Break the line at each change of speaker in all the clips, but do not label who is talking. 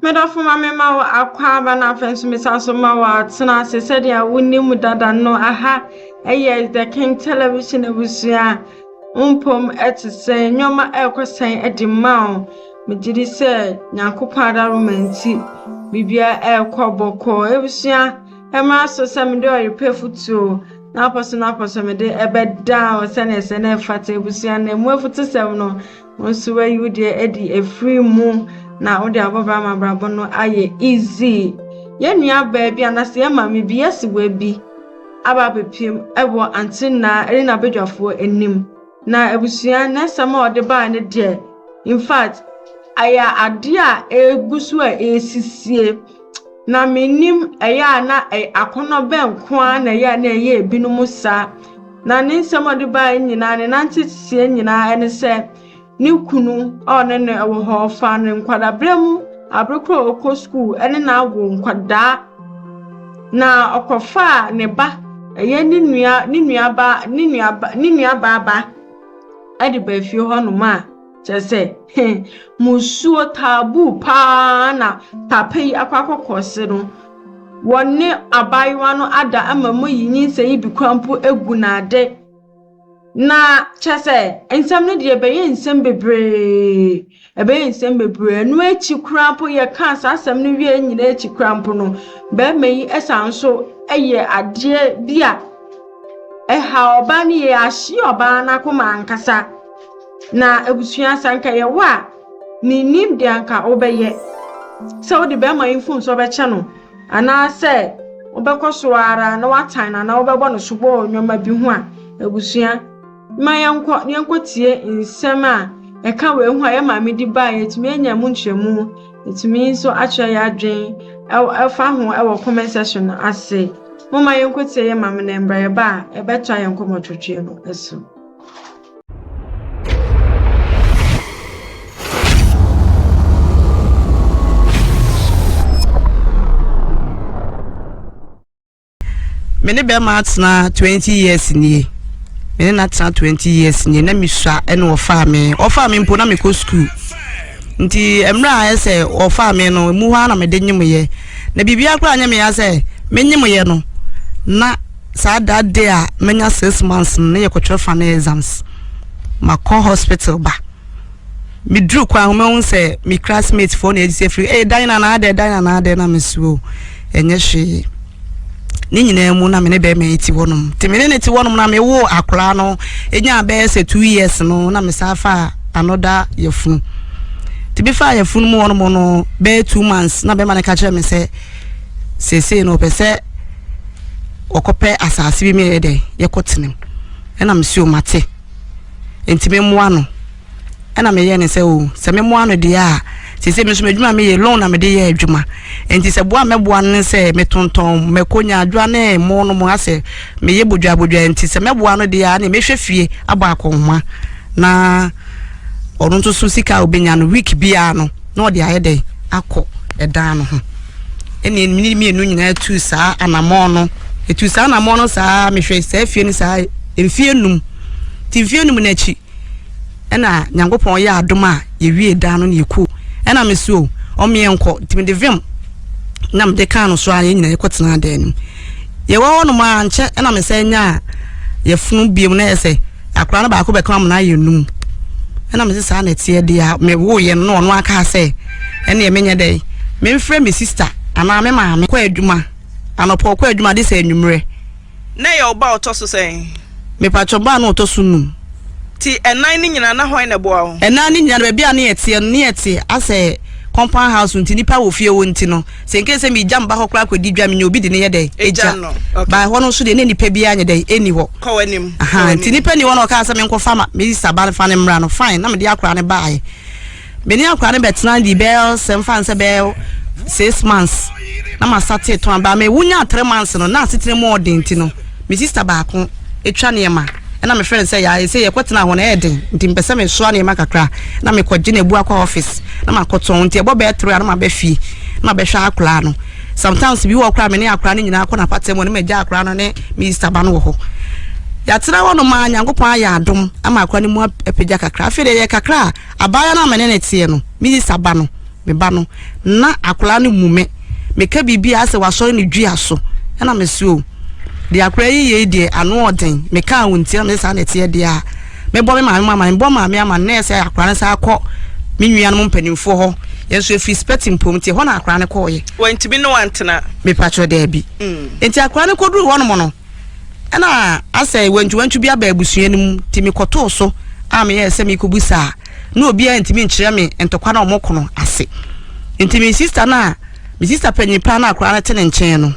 Me dɔfo ma me ma wo akwaaba na afei nso mesan so ma wo atena ase sɛdeɛ wonim dada no aha ɛyɛ the king television abusua mpom ɛte sɛ nneɛma ɛrekɔ sɛn ɛde ma wo megye di sɛ nyankopɔn adaroma nti biribiara ɛrekɔ bɔkɔɔ abusua ɛmmra so sɛ mede ɔyepɛ futuo na apɔ so na apɔ so mede ɛbɛda wo sɛdeɛ sɛ na ɛfata abusua na ɛmu afutusɛm no Wo nso woayi wo deɛ adi afiri mu na wode abɔbra ama abrabɔ no ayɛ easy. Yɛn nua baa bi anaasɛ yɛn maame bi yɛsi wɔ bi aba abɛpiem wɔ ante nnaa ɛne n'abadwafoɔ anim na abusua ne nsɛm a ɔde baa ne deɛ in fact ɛyɛ adeɛ a ɛgu so a ɛresisie na menim ɛyɛ a na akɔnɔ bɛn nko ara na ɛyɛ a na ɛyɛ ebinom saa Na ne nsɛm a ɔde baeɛ nyinaa, ne nanteteɛ nyinaa ne sɛ ne kunu a ɔne no wɔ hɔ faa no nkwadaaberɛ mu, abere korɔ a ɔkɔ sukuu ne no awo nkwadaa, na ɔkɔfaa ne ba, ɛyɛ ne nua, ne nuabaa, ne nuaba, ne nuabaa ba de baa fie hɔnom a. Kyerɛ sɛ, he, musuo taaboo pa ara na papa yi akɔ akɔkɔse no. Wɔne abaayewa no ada ama moayi nyinsɛn yi bi koraa mpo agu no ade. Na kyerɛ sɛ, nsɛm no deɛ ɛbɛyɛ nsɛm bebree, ɛbɛyɛ nsɛm bebree. Ɛno akyi koraa mpo, yɛkaa saa asɛm no wieeɛ nyinaa akyi koraa mpo no, barima yi san so yɛ adeɛ bi a ɛha ɔbaa no yie, ahye ɔbaa no akoma ankasa. Na abusua sɛ anka ɛyɛ wo a, minnim deɛ anka wobɛyɛ. Sɛ wode bɛrima yi mfomsoɔ bɛkyɛ no, anaasɛ wobɛkɔ so ara na woatan no anaa wobɛbɔ no sobo wɔ nneɛma bi ho a, abusua, ma yɛnkɔ na yɛnkɔtie nsɛm a ɛka wei ho a yɛn maame de baeɛ, yɛtumi anya mu nkyerɛmu, yɛtumi nso akyerɛ yɛn adwene ɛfa ho wɔ comment section no ase. Momma yɛnkɔtie yɛn maame na mmra yɛba a, yɛbɛtoa yɛn nkɔmmɔtwetweɛ no so.
me ne bɛrima atena twenty years nie me ne n'atena twenty years nie na mesua ɛna ɔfaa me ɔfaa me mpo na mekɔ school nti mmerɛ a ɛsɛ ɔfaa me no mu hɔ a na mede nyemyɛ na biribiara koraa nyɛ meya sɛ menyemyɛ no na Saa that day a manya six months no ne yɛkɔtwerɛ final exams makɔ hospital ba meduru kwan ho mahu sɛ me classmate foɔ na ɛgyesɛ firi ee dan na naadɛ dan na naadɛ na mesuo ɛnyɛ hwee ne nyinaa mu na me ne bɛrima yi ti hɔnom te me ne ne ti hɔnom na mewo akoraa no ɛnya bɛyɛ sɛ two years no na mesan fa anoda yɛfunu te bi fa yɛfunu mu hɔnom no bɛyɛ two months na bɛrima no ka kyerɛ me sɛ seesei no ɔpɛ sɛ wɔkɔpɛ asase bi meyɛ dɛ yɛkɔtena mu ɛna mesi o mate nti memmoa no ɛna meyɛ ne sɛ o sɛ memmoa no deɛ a sese me nso m'adwuma meyɛ loan na mede yɛ adwuma nti sɛ boa mɛboa no ne sɛ metontɔn mɛkɔ nya adwoa ne mo no mo asɛ meyɛ bodwabodwa nti sɛ mɛboa no deɛ a ne mehwɛ fie abɔ akɔnhoma na ɔno nso so sika a obenya no week biara no na ɔde ayɛ dɛn akɔ ɛdan no ho ɛne mene mmienu nyinaa tu saa anammɔn no ɛtu saa anammɔn no saa mehwɛ saa fie no saa mfie num nti mfie num no akyi ɛna nyankopɔn yɛ adom a yɛwie dan no na yɛkuo ɛna me so ɔmeɛ nkɔ nti mede vim na mede kaa no so a yɛ nyinaa yɛkɔtena dan no mu yɛwɔ hɔ nom a nkyɛ ɛna mesɛ nya a yɛfono biom na yɛ sɛ akora no baako bɛka ɔmo n'ayɛ num ɛna mese saa na ɛteɛ deɛ a mewo yɛ no ɔno aka sɛ ɛneɛ menyɛ dɛ memfrɛ me sista anaa me maame kɔ adwuma anɔpɔ kɔ adwuma de sɛ anwummerɛ na yɛ ɔba
ɔtɔ so sɛn mepatwɔ baa
na ɔtɔ so num ti ɛnan
ne nyina na hwan na ɛboa wo ɛnan ne nyina no baabi a ne
yɛteɛ no ne yɛte asɛ compound house nti nipa wɔ fie wɔ nti no Sɛ nka sɛ megya mba hɔ koraa kɔdi dwa menya obi de no yɛ dɛn? Egya no. By hɔ no nso deɛ na nnipa biara nyɛ dɛn? Ɛnni hɔ. Kɔ w'anim. Aha,
nti nnipa nni hɔ na
ɔkaa sɛ menkɔfa ma me sista ba fa no mmra no, fine, na mede akora no baaɛ. Me ne akora no bɛtena di bɛɛ sɛ mfa nsɛ bɛɛ six months na masate tɔn abaa me wonya three months no na asetena mu ɔden ti no Me sister baako twa nneɛma na mefrɛ no sɛ yaa ɛsɛ yɛkɔtena hɔ no ɛyɛ den nti mepɛ sɛ mesoa nneɛma kakra na mekɔgye no abu akɔ office na makɔtɔn nti ɛbɔ bɛyɛ toro a na maba fie na mabɛhwɛ akwaraa no sometimes bi wɔ koraa me ne akwaraa no nyinaa kɔ n'apata mu ne magya akwaraa no ne me yista ba no wɔ hɔ yɛatena hɔ no ma nyankopɔn ayɛ adom ama akwaraa no mu apagya kakra afei deɛ yɛ kakra a abaayewa no a me ne ne teɛ no me yista ba no me ba no na akwadaa no mu me meka biribi a sɛ wasɔre ne dua so ɛna me se o deɛ akwadaa yi yɛ yi deɛ ano ɔden meka a wɔntia me saa na ɛteɛ deɛ a mebɔ me maame ama mebɔ maame ama na ɛsɛ akwadaa no saa kɔ me nua no mu mpanimfoɔ hɔ yɛn nso efiri spɛti mpom nti hɔ na akwadaa no kɔɔyɛ. wɔntumi ne wantena.
mepatwɛ daabi.
Mm. nti akwadaa no kɔduru hɔ nom no ɛna asɛ wantwiwantwi bi aba abusua no mu nti mekɔtoo so a meyɛ sɛ mekɔbu saa na obiara ntumi nkyerɛ me ntɔkwa na wɔn kono ase nti me sista no a me sista panyin paa na akora no te ne nkyɛn no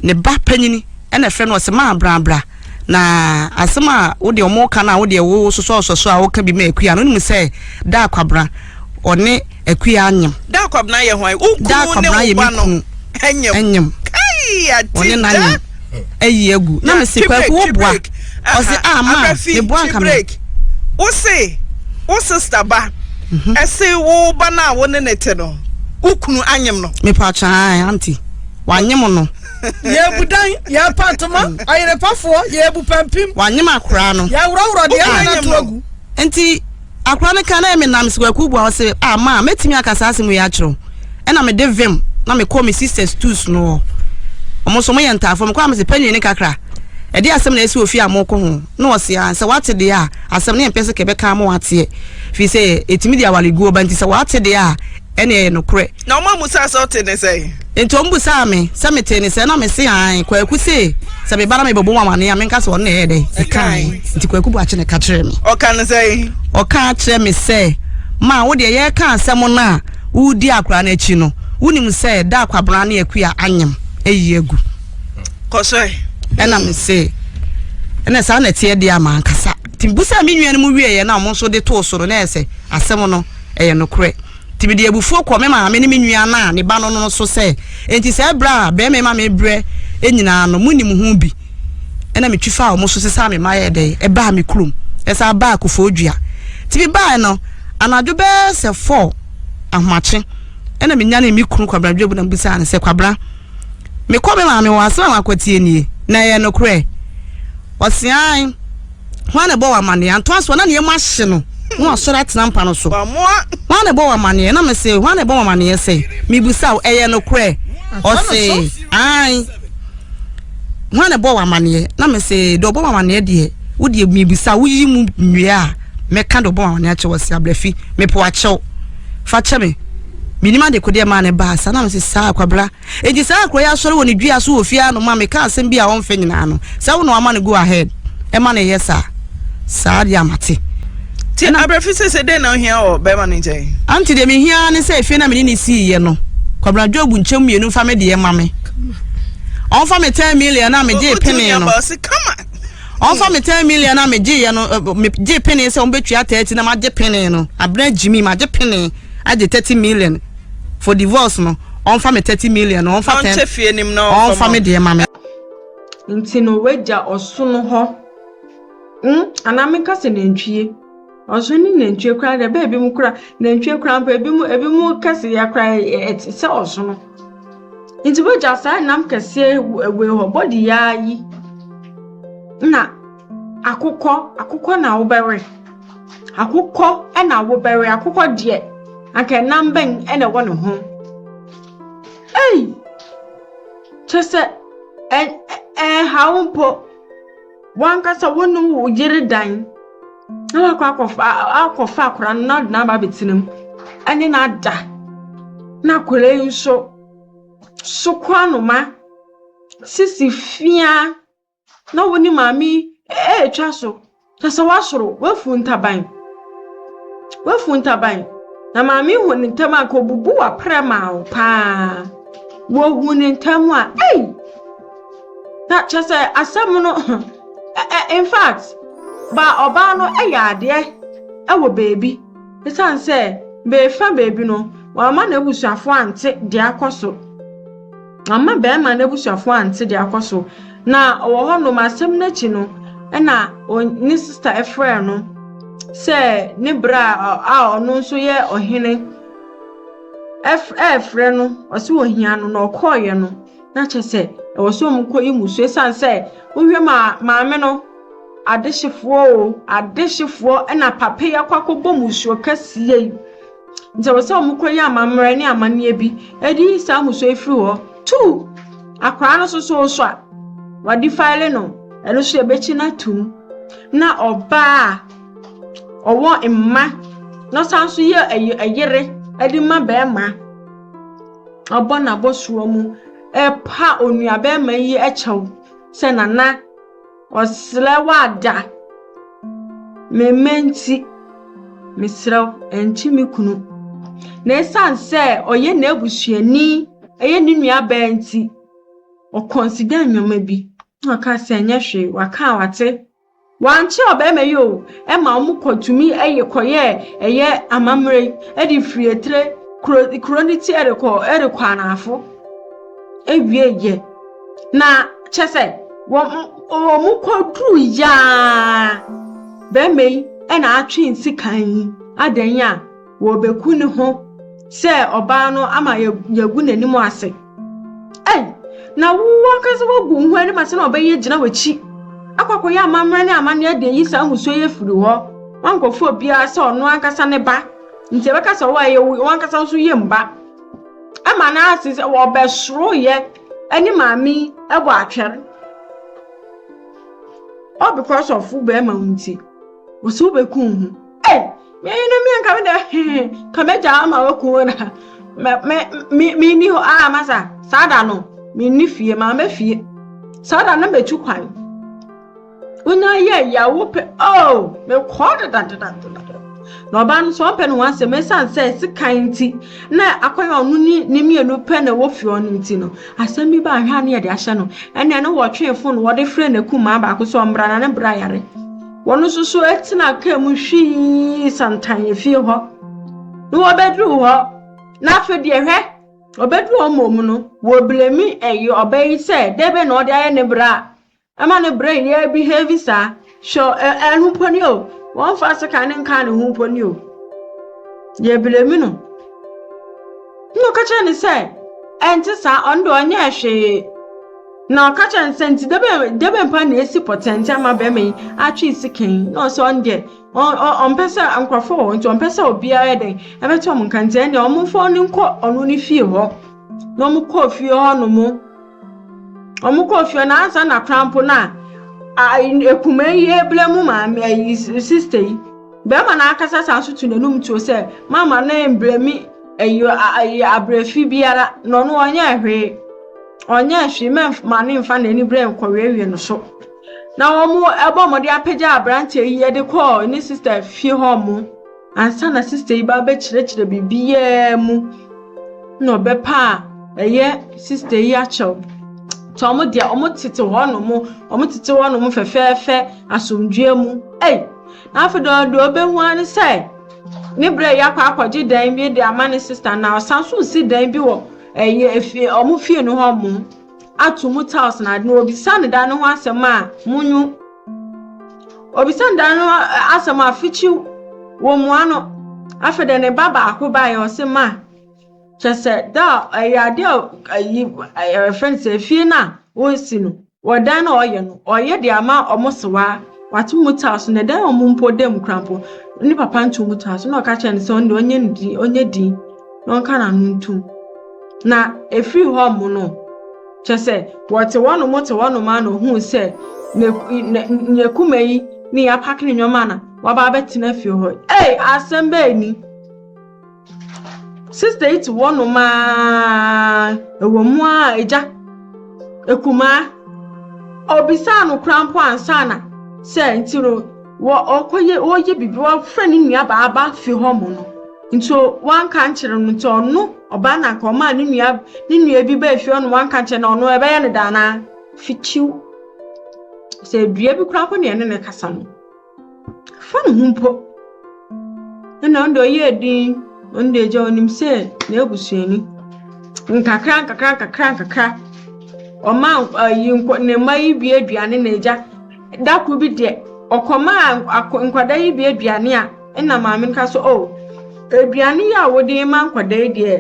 ne ba panyin ɛna fɛ no ɔsɛ maa brabra na asɛm a wode wɔn ka no a wode ɛwo sosɔsɔsɔ a wɔka bi ma akua no nim sɛ da akwabra ɔne Akua nyem. Daa kwabena yɛ hwan wo
kunu ne wo ba no. Daa kwabena yɛ me kunu. Ɛnyem. Kai ati da. Ɔne na nyem.
Ayi agu. Na me se kwaku wo boa. Ɔse ah ma me boa nka me. Wo se wo sister ba. Ɛse wo ba no a wo ne ne te no. Wo kunu anyem no. Me pa chan auntie. Wanyem no. Yɛbu dan,
yɛpa ntoma, ɔyerepafoɔ, yɛbu pampim. Wanyem akora no.
Yɛworɔworɔ deɛ na
to agu. Nti
Akora no ka na me nam sikakuo bua ɔse ah maa mɛtumi aka saa asɛm wei akyerɛ wo ɛna me de vim na me kɔ me sisters tools no hɔ ɔmo nso ɔmo yɛ ntaafoɔ me kɔ a me se pɛnwii ne kakra ɛde asɛm na ɛsi ofie a mo kɔ ho na ɔse ah sɛ wate deɛ a asɛm ne mpɛ sɛ kɛbɛka ama wateɛ firi sɛ ɛtumi de awareguo ba nti sɛ wate deɛ a ɛne ɛyɛ nokorɛ Na wɔn ammusaa sɛ ɔtee
ne sɛn? Enti wɔn busaa me
sɛ metee ne sɛn na me se aane. Kwaku se sɛ me ba na me bɛbɔ mu amanneɛ a menka sɛ ɔno na ɛyɛɛ dɛn? Ɛkaae. Enti Kwaku bu akyene ka kyerɛɛ me. Ɔka no sɛn?
Ɔkaa kyerɛɛ me
sɛ, Ma wo deɛ yɛreka asɛm no a woredi akwadaa no akyi no, wonim sɛ da a Kwabena ne Akua anyem ayi agu. Kɔ so ɛ.
Ɛna me
se, Ɛna saa na ɛteɛ deɛ a mankasa. Nti mebusaa me nuanom wieeɛ na wɔn nso de too so no na ɛyɛ sɛ asɛm no ɛyɛ nokorɛ. Enti mede abufuo kɔɔ me maame ne me nua no a ne ba no no so sɛ, Enti saa brɛ a barima yi ma me brɛ nyinaa no, monim ho bi? Ɛnna metwi faa wɔn so sesaa me mma yɛɛ dɛn? Ɛbaa me kurom. Ɛsan baa Kuffour Dua. Enti mebaeɛ no, anadwo bɛyɛ sɛ four ahomakye. Ɛnna menyanee me kunu Kwabena Dwebu na mebisaa no sɛ, Kwabena, mekɔ me maame hɔ, asɛm a makɔtie nie, na ɛyɛ nokorɛ? Ɔse, Aane. Hwan na ɛbɔ wo amanneɛ? Antoa so, Ɔna ne yam ahye no, na wasɔre atena mpa no so. Hwan na ɛbɔ wo amanneɛ? Na mese, Hwan na ɛbɔ wo amanneɛ sɛ? Mebisa wo, ɛyɛ nokorɛ? Ɔse, Aane. Hwan na ɛbɔ wo amanneɛ? Na mese, Deɛ ɔbɔ wo amanneɛ deɛ, wo deɛ mebisa, woyi mu nnua a, mɛka deɛ ɔbɔ wo amanneɛ akyɛ wɔ se abrɛfi, mepo akyɛw. Fa kyɛ me, menim adekodeɛ maa ne baa saa. Na mese, Saa, Kwabra. Enti saa akura yi asɔre wɔ ne dua so wɔ fie ha nom ma me ka asɛm bi a ɔmfɛ nyinaa no sɛ wo na wama no go ahead ɛma no yɛ saa saa deɛ mate. Ti abrɛfi
sese dɛn na ohia wɔ bɛɛma no nkyɛn. Aunty deɛ me hia ara ne
sɛ efie na me ne no sii yɛ no Kwabena Job nkyɛm mmienu nfa me deɛ ma me ɔnfa me ten million na me gyee penee no ɔnfa me ten million na me gyee yɛ no eh, me gyee penee sɛ ɔmo bɛtua thirty na ma gye penee no Abena Jimmy ma gye penee agye thirty million for divorce no ɔnfa me thirty million no ɔnfa ten ɔnfa
me deɛ ma me.
Nti
no wagya ɔsono hɔ mm anaa menka sɛ nantwie ɔsono ne nantwie koraa deɛ bɛɛ bi mu koraa nantwie koraa mpo ebi mu ebi mu kɛseyɛ koraa ɛte sɛ ɔsono nti wagya saa nam kɛseɛ wei hɔ bɔde yaa yi na. Akokɔ, akokɔ na wobɛwe. Akokɔ na wobɛwe. Akokɔ deɛ, anka nam bɛn na ɛwɔ ne ho? Ei! Kyɛ sɛ ɛ ɛ ɛnha wo mpo. W'ankasa wo ne wo yere dan na woakɔ akɔfa akɔfa akwadaa no na wode no aba abɛtena mu ne no ada na akwadaa yi nso, soko anoma, sisi fiaa. na wo ne maame yi ɛretwa so, kyɛ sɛ woasoro, woafu ntaban. Woafu ntaban. Na maame yi hu ne ntam a nka obubu w'aprɛ maa wo paa. Wohu ne ntam a, ei! Na kyɛ sɛ asɛm no, in fact, ba ɔbaa no yɛ adeɛ wɔ baabi. Ɛsiane sɛ beefa baabi no, wamma n'abusuafoɔ ante deɛ akɔ so. Amma barima no abusuafo ante de akɔ so, na ɔwɔ hɔnom. Asɛm no akyi no, ɛna ne sista frɛɛ no sɛ ne bra a ɔno nso yɛ ɔhene ɛrefrɛ no, ɔse ohia no, na ɔkɔɔeɛ no, na kyerɛ sɛ ɛwɔ sɛ wɔn kɔyi mu so esiane sɛ wohwɛ ma maame no adehyefoɔ o, adehyefoɔ na papa yi akɔ akɔbɔ musuo kɛseɛ yi. Nti ɛwɔ sɛ wɔn kura yɛ amammerɛ ne amanneɛ bi de yi saa amusua yi firi hɔ. Two, akwaraa no nso so so a wɔadifile no, ɛno nso yɛbɛkyi no atum. Na ɔbaa a ɔwɔ mma na ɔsan nso yɛ ɛy- ɛyere de ma barima ɔbɔ n'abɔsoɔ mu ɛpa onuabarima yi kyɛw sɛ nana Ɔsrɛ wo ada me mma nti, mesrɛ wo ɛnkye me kunu. Na ɛsiane sɛ ɔyɛ n'abusuani, ɛyɛ ne nuabaa nti, ɔkɔnsida nneɛma bi na ɔka sɛ ɛnyɛ hwee, waka a wate. Wankyerɛ ɔbarima yi o, ɛma wɔn kɔtumi ɛyɛ kɔyɛɛ ɛyɛ amammerɛ yi de firii tire kuro kuro ne ti ɛrekɔ ɛrekɔ anafo. awieeɛ. Na kyɛ sɛ wɔn kɔduru yaa bɛrima yi na atwe nsekan yi adɛn a wɔbɛku ne ho sɛ ɔbaa no ama yɛagu n'anim ase ei na wo ankasa woagu wo ho anim ase na ɔbɛyɛ gyina w'akyi akɔ akɔyɛ amammerɛ ne amanneɛ de yi saa mmusuo yɛ firi hɔ wankɔfo obiara sɛ ɔno ankasa ne ba nti ɛbɛka sɛ ɔwɔ ɛyɛ wo ankasa nso yɛ mba ma no ase sɛ wɔbɛsoroeɛ ne maame yi bɔ atwɛr all because of wo bɛrima wo nti wɔ so wobɛkum ho ei meyi no mia nka me dɛ hee ka mɛgya ama waku wo na menni hɔ a masa saa da no menni fie maama fie saa da no mɛtu kwan Wonya yɛ yɛ wo pɛ oh me kɔɔ deda deda deda. Na ɔbaa no sɛ ɔmpɛ ne ho asɛm ɛsan sɛ sekan nti na akɔyɛ ɔno ne ne mmienu pɛ na ɛwɔ fie ɔno nti no asɛm bi ba ahwɛ a ne yɛde ahyɛ no ɛne ɛne wɔtwee fon no wɔde frɛ ne kumaa baako sɛ ɔmbra na ne bra yare wɔn nso so ɛtena kaa mu hwii santan efie hɔ na wɔbɛduru hɔ na afei deɛ hwɛ ɔbɛduru ɔmɔ mu no wɔblemi ɛyɛ ɔbɛ yi sɛ dɛbɛ na ɔde ayɛ ne bra a Ɛma ne brain yɛ behave saa. Hwɛ ɛ ɛno mpo ni o. Wɔmfa sekan no nkaa ne ho mpo ni o. Yɛblemi no. Ɛna ɔka kyerɛ no sɛ ɛnte saa ɔno deɛ ɔnyɛɛ hwee. Na ɔka kyerɛ no sɛ nti dɛ bɛn dɛ bɛn pa na esi pɔtɛnte ama bɛrima yi atwe sekan yi na ɔsɛ ɔno deɛ ɔmpɛ sɛ nkurɔfoɔ wɔ hɔ nti ɔmpɛ sɛ obiara yɛ dɛn ɛbɛto wɔn nka nti ɛnneɛ wɔmfa ɔno nkɔ ɔno ne fie hɔ. Na wɔkɔɔ fie hɔ nom. Wɔn kɔɔ fie na ansa na kora mpo na ekuma yi ebile mu maame ayi sista yi. Bɛrima no ankasa san so tu n'anum tuo sɛ mama no mbere mi ayi ayi abrɛfi biara na ɔno ɔnyɛ hwee. Ɔnyɛ hwee mɛma no mfa n'ani berɛ nkɔwiewie no so. Na wɔn ɛbɔ wɔn de apagya aberanteɛ yi de kɔɔ ne sista fie hɔ mo. ansa na sista yi ba bɛkyerɛkyerɛ biribiara mu na ɔbɛpa a ɛyɛ sista yi akyɛw nti ɔmo deɛ ɔmo tete hɔ nom ɔmo tete hɔ nom fɛfɛɛfɛ asomdwoeɛ mu ei na afei deɛ deɛ ɔbɛhu ara ne sɛ ne berɛ yɛ akɔ akɔgye dan bi de ama ne sista na ɔsan so si dan bi wɔ ɛyɛ efie ɔmo fie no hɔ mo ato mu tiles na ade na obisa ne dan no ho asɛm a mo nyu Obisaa nda no asɛm a fikyiw wɔmmua no. Afei dɛ ne ba baako bae ɔse ma kyɛ sɛ da a ɛyɛ ade a ayi ɛfɛ no sɛ efie no a wɔresi no wɔ dan no a ɔyɛ no ɔyɛ de ama ɔmo sewaa wato mu taa so na dan ɔmo mpo da mu kora mpo ne papa nto mu taa so na ɔka kyerɛ no sɛ ɔno ɔnyɛ ne din ɔnyɛ din na ɔnka n'ano ntom na efiri hɔ ɔmo no Kyerɛ sɛ, wɔtse hɔnom tse hɔnom ara na ohun sɛ n'eku-na-na-n'ekumba yi ne yɛapak ne ndzɛmba na ɔaba abɛtsena fie hɔ. Ei, asɛm bɛn ni! Sista yi tse hɔnom ara, ɔwɔ mu ara a, egya, ekumaa, obisaa no koraa mpo ansaana sɛ ntsi no, wɔ-ɔkɔyɛ-ɔreyɛ biribi, ɔafrɛ no nuabaa aba fie hɔ mo no, Nti o wanka nkyerɛ no nti ɔno ɔbaa na nka ɔmaa ne nua ne nua bi baa fie ɔno wanka nkyerɛ na ɔno ɛbɛyɛ no daa naa fitiw sɛ dua bi koraa kɔ ne ɛne ne kasa no fa ne ho mpo ɛna ɔno deɛ ɔyɛ din ɔno deɛ gya ɔnim sɛ n'abusuani nkakra nkakra nkakra nkakra ɔma ayi nkɔ ne mma yi bi aduane na agya da koro bi deɛ ɔkɔmaa nkwadaa yi bi aduane a Nna maame no ka sɛ, oh, aduane yi a wode ma nkwadaa yi deɛ,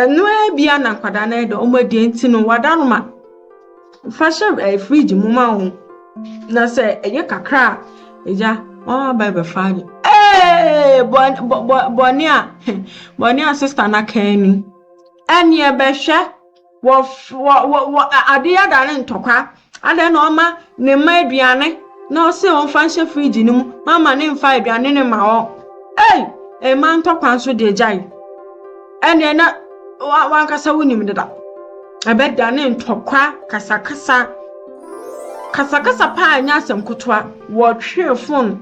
ɛno ara bi na nkwadaa no de wɔn adi nti no wada no ma. Fa hyɛ ɛɛ fridge mu ma wɔn. Na sɛ ɛyɛ kakra a, agya wɔn aba bɛfa ade. Ee, bɔne a bɔne a sista no aka ni. Ɛnneɛ bɛhwɛ Wɔ wɔ wɔ wɔ ade ada ne ntɔkwa. Adɛn na ɔma ne mma aduane na ɔse ɔmfa nhyɛ fridge no mu ma ama ne mfa aduane no mma wɔn? Ei! Mma ntɔkwa nso deɛ gyae. Ɛneɛ na wankasa wonim deda. Ɛbɛdane ntɔkwa kasakasa. Kasakasa paa nyɛ asɛm kotoa. Wɔtwee fon,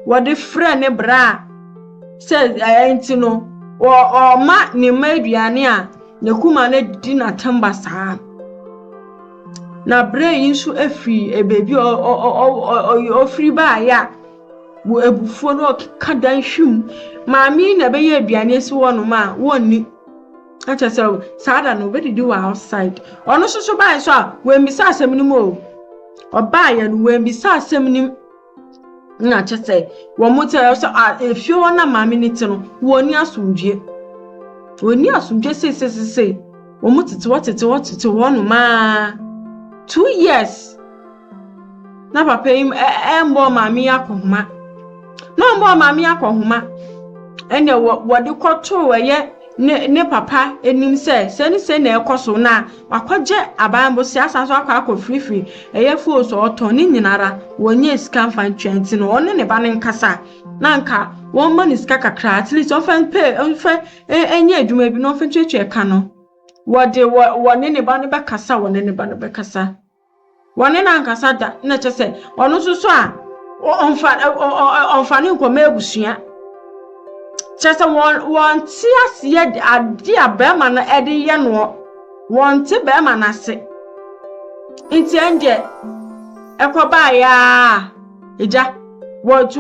wɔde frɛ ne bra sɛ ɛɛ nti no ɔma ne mma aduane a N'akuma no di no atɛm basaa. Na berɛ yi nso firi baabi a ɔfiri baeɛ a, wɔ abufuo na ɔkeka dan hwim. Maame yi na ɛbɛyɛ aduane asi hɔnom a, wɔnni. Na kyerɛ sɛ saa da no, wɔbɛdidi wɔ outside. Ɔno nso so baeɛ nso a, wammisa asɛm no mu o. Ɔbaeɛ no, wammisa asɛm no mu. na kyɛ sɛ wɔn mo te sɛ a efie hɔ na maame no te no wɔn ni asomdwie wɔn ni asomdwie seesesesei wɔn mo tete hɔ tete hɔ tete hɔ nomaa two years na papa yi ɛmbɔ maame yi akɔhoma na ɔmbɔ maame yi akɔhoma ɛnna wɔde kɔtoo ɛyɛ ne ne papa anim sɛ sɛ ne sɛ na ɛkɔ so na. Wakɔgye aban bosea asan so akɔ akɔ firifiri ɛyɛ foo so ɔtɔn ne nyinara wɔnyɛ sika nfa ntwa nti no ɔne ne ba no nkasa na nka wɔn ma no sika kakra at least ɔnfa mpɛ ɔnfa ɛnyɛ adwuma bi na ɔnfa ntuatua ɛka no wɔde wɔ ne ne ba no bɛkasa wɔne ne ba no bɛkasa. Wɔne no ankasa da, na kyɛ sɛ ɔno nso so a ɔmfa ɔmfa no nkɔma abusua. Kyɛ sɛ wɔn wɔnte aseɛ adeɛ a bɛrima no ɛde yɛ noɔ, wɔnte bɛrima no ase. Nti ɛndeɛ ɛkɔbaeɛ a agya wɔtu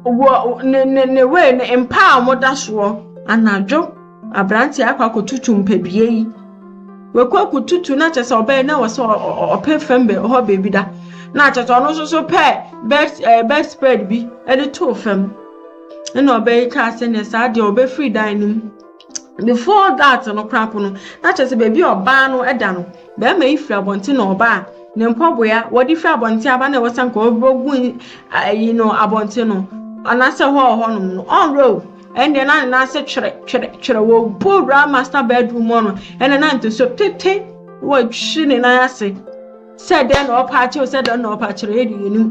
wɔ ne ne ne wei ne mpa a wɔda soɔ anadwo. Aberanteɛ akɔ akɔtutu mpadua yi. Wakɔ akɔtutu na kyerɛ sɛ ɔbɛyɛ na wɔ sɛ ɔpɛ fam bɛ hɔ baabi da. Na kyerɛ sɛ ɔno nso so pɛ bed ɛɛ bed spread bi ɛde too fam. Ɛna ɔbɛyi kaa sɛ nɛ saa deɛ ɔbɛfiri dan no mu. Before that no koraa po no na kyerɛ sɛ baabi a ɔbaa no ɛda no bɛrima yi firi abɔnten na ɔbaa ne mpɔboya wɔde firi abɔnten aba na ɛwɔ sɛ nka ɔgu ɛyi no abɔnten no anaasɛ hɔ a ɔhɔ nom no ɔnwerɛ o. Ɛnneɛ na ne nan ase twerɛ twerɛ twerɛ. Wɔbu awura master bedroom hɔ no, ɛnna na ntoso tete wɔtwi ne nan ase sɛ dɛn na ɔpa akyɛw sɛ dɛn na ɔpa akyerɛ yɛ de yɛ nim.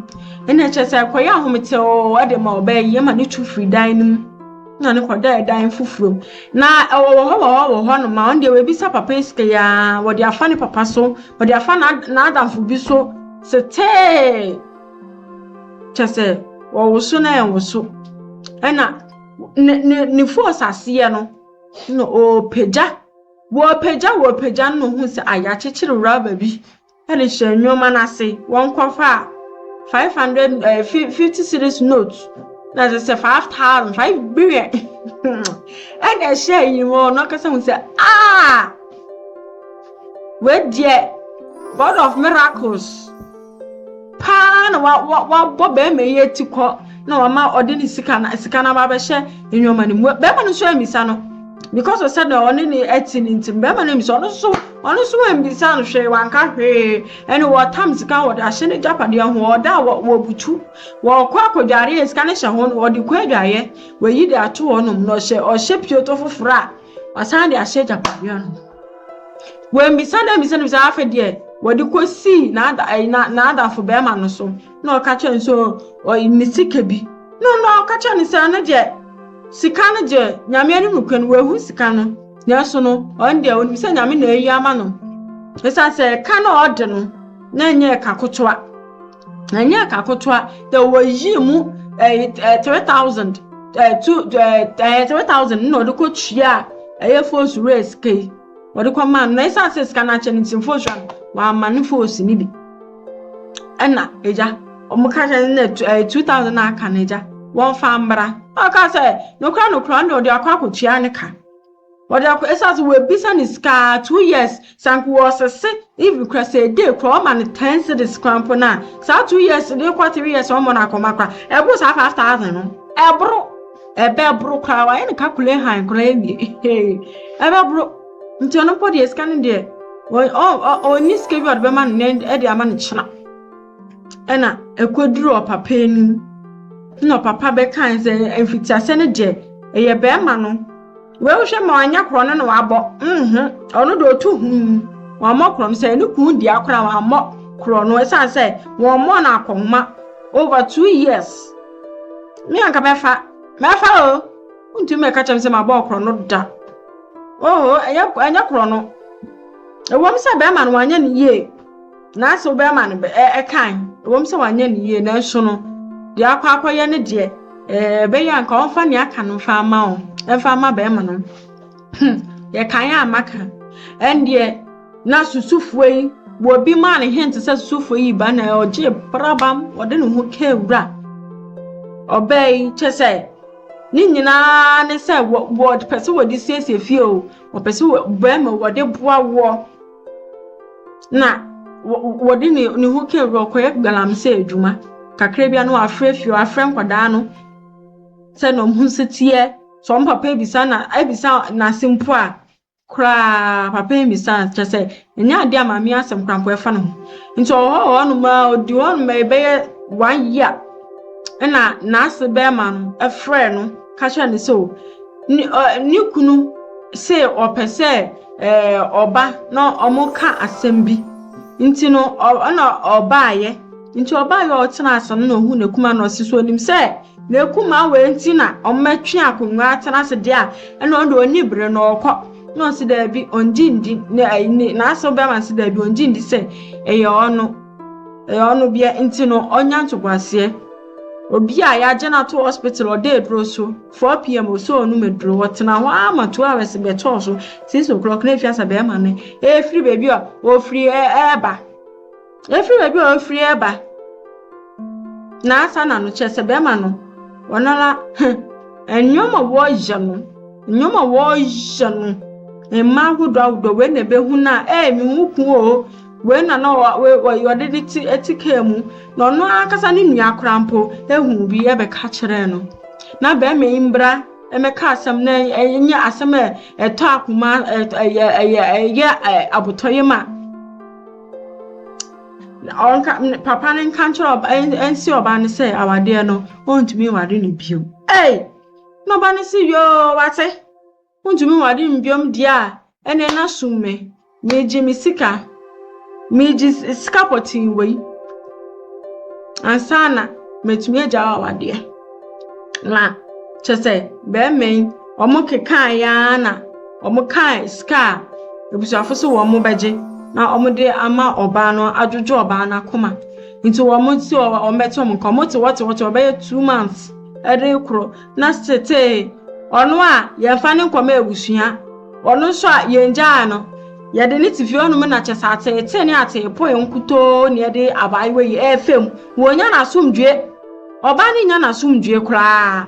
Ɛnna kyerɛ sɛ ɛkɔyɛ ahomete oo de ma ɔbaa yi ɛma ne tu firi dan no mu na ne kɔdaa dan foforɔ mu. Na ɛwɔ wɔ hɔ wɔ hɔ wɔ hɔ no ma ɔno deɛ wɔabisa papa yi sika yi ara wɔde afa ne papa so wɔde afa n'adamfo bi so setee. kyɛ sɛ wɔwoso na ɛnwoso ɛna ne ne ne fos aseɛ no na ɔrepagya wɔrepagya wɔrepagya no na ohun sɛ a yɛakyekyere rɔba bi ɛde hyɛ nneɛma no ase wɔnkɔfa a five hundred ɛɛ eh, fifty series note na ɛsɛ sɛ five thousand five billion ɛna ɛhyɛ yi mu ɔno akasa ho sɛ aa wei deɛ god of miracles. paa na wa wa wabɔ bɛrima yi ati kɔ na wama ɔde ne sika na sika na wabɛhyɛ nneɛma no mu bɛrima no nso amisa no because of sɛdeɛ ɔne ne ɛte ne nti bɛrima no amisa ɔno nso ɔno nso amisa no hwee wanka hwee ɛne wɔtam sika wɔde ahyɛ ne gyapadeɛ ho ɔda a wɔbutu wɔkɔ akɔdwareɛ sika no hyɛ ho no wɔde kɔ adwareɛ wɔyi de ato hɔ nom na ɔhyɛ ɔhyɛ pioto foforɔ a wasan de ahyɛ gyapadeɛ no Wammisa dɛ mmisa no bisa, afei deɛ wɔde kɔsii n'ada ɛyi na n'adafo bɛrima no so na ɔka kyerɛ no sɛ ɔyi ne sika bi na ɔno a ɔka kyerɛ no sɛ ɔno deɛ sika no deɛ nyame anim no kura no wahu sika no nanso no ɔno deɛ onim sɛ nyame na ayi ama no ɛsiane sɛ ɛka na ɔde no na ɛnyɛ ɛka kotoa Ɛnyɛ ɛka kotoa na wɔyii mu ɛyɛ ɛyɛ three thousand ɛɛ two ɛɛ ɛyɛ three thousand na ɔde kɔ tua ɛyɛ fos wura sika yi ɔde kɔ maa no na esan sɛ sika no akyɛ no nti fos wura no wama ne fos no bi ɛna egya wɔn ka kyerɛ no na ɛyɛ two thousand na aka no egya wɔn fa mbra ɔka sɛ nokora nokora na ɔde akɔ akɔtua ne ka. Ɔde akɔ ɛsan sɛ w'ɛbisa ne sika aa two years sɛ anka wɔ ɔsese even kora sɛ a day kora ɔma no ten cedis kora mpo no a saa two years no kɔ three years ɔmɔ no akɔma kora ɛboro saa five thousand no ɛboro ɛbɛ boro kora wayɛ no kakule han kora ɛwie hee ɛbɛ boro nti ɔno mpo deɛ sika no deɛ ɔnni sika bi ɔde bɛma no nɛ ɛde ama no kyena. na ekodur ɔpapa enyim, nna ɔpapa bɛkãa dɛ, Mfitsiase no dze, eyɛ bɛrima no. Woehwɛ ma ɔannyɛ kor no na ɔabɔ? Oho, ɔno dze otu humm, ɔammbɔ kor no. Sɛ no kun dzi akor a, ɔammbɔ kor no osiandɛ wɔmmbɔɔ no akɔnhoma over two years. Me a nka mɛfa, mɛfa o, wonntum mmɛka kyerɛ me dɛ mabɔ kor no da. Oho, nnyɛ kor no. Ɔwɔ mu dɛ bɛrima no ɔannyɛ no yie. Nanso wobɛma no kan, ɛwom sɛ wanyɛ no yie nanso no, deɛ akɔ akɔyɛ no deɛ, ɛbɛyɛ a nka ɔmfa nea aka no mfa ama wo, ɛmfa ama bɛrima no. Hmm, yɛkan a maka. Ɛndeɛ na susufoɔ yi, wɔ bi maa ne hint sɛ susufoɔ yi ba na ɔgye prabam, ɔde ne ho kaa wura. Ɔbaa yi kyɛ sɛ ne nyinaa ne sɛ wɔpɛ sɛ wɔde siesie fie o, wɔpɛ sɛ bɛrima wɔde boa woɔ. na wɔde ne ne ho kɛn bi ɔkɔyɛ galamsey adwuma kakra bi na wafrɛ fie wafrɛ nkwadaa no sɛ na ɔmo nso teɛ sɛ ɔmo papa ebisa na ebisa n'ase mpo a koraa papa ebisa kyerɛ sɛ ɛnyɛ ade a maame asɛm koraa mpo ɛfa ne ho nti ɔwɔ hɔ wɔ hɔnom a odi hɔ nom ɛbɛyɛ one year ɛna n'ase bɛrima no ɛfrɛ no ka kyerɛ no sɛ o ne ɔ ne kunu sɛ ɔpɛ sɛ. ɔba na wɔreka asɛm bi. Nti no, na ɔbaeɛ. Nti ɔbaeɛ a ɔtenaa ase no na ɔhu n'akuma na ɔsi so onim sɛ n'akuma wei nti na wɔatwe akonnwa atena ase deɛ a ɛna ɔno deɛ ɔni bere na ɔkɔ na ɔsi daabi ɔngye ndi na ɛyi ne n'asew bɛma si daabi ɔngye ndi sɛ ɛyɛ ɔno ɛyɛ ɔno deɛ nti no ɔnya ntoboaseɛ. Obi a yɛagye no ato hospital ɔda aduro so. Four PM ɔsɛ ɔnom aduro. Ɔtena hɔ ara ma two hours bɛtɔɔ so. Six o'clock na efiasa bɛrima no efiri baabi a ofiri ɛɛba. Efiri baabi a ofiri ɛɛba. Na asa na no kyerɛ sɛ bɛrima no ɔnara nneɛma wɔyɛ no nneɛma wɔyɛ no mmaa ahodoɔ ahodoɔ wei na ebehu no a ɛɛ mehu kun o. Wei na na ɔ, wei, wei, ɔde ne ti ti kaa mu, na ɔno ankasa ne nua koraa mpo huu bi bɛka kyerɛɛ no. Na barima yi mbra mmɛka asɛm na ɛnyɛ asɛm a ɛtɔ akoma, ɛyɛ, ɛyɛ, ɛyɛ abotɔyam a ɔnka, papa no nka nkyerɛ ɔba, ɛnsi ɔba no sɛ awadeɛ no, ɔntumi nware no bio. Ei! Na ɔba no se, yoo, wate. Wontumi nware mbiom deɛ a ɛnɛ na som me Meegye me sika Meegye sika pɔtee wei Ansa na matumi agya wo awadeɛ Na kyɛ sɛ bɛɛma yi wɔn kekaaeɛ ara na wɔn kaa sika a abusuafo se wɔn bɛgye na wɔn de ama ɔbaa no adwodwo ɔbaa no akoma nti wɔn se wɔn bɛte wɔn nka wɔn te wɔte wɔte wɔbɛyɛ two months ɛde koro na setee ɔno a yɛmfa no nkɔma abusua, ɔno nso a yengyaa no, yɛde no te fie hɔnom na kyɛ sɛ ateetee ne ateepoe nkutoo na yɛde abaayewa yi ɛrefa mu. Wɔnya n'asomdwoe. Ɔbaa no nya n'asomdwoe koraa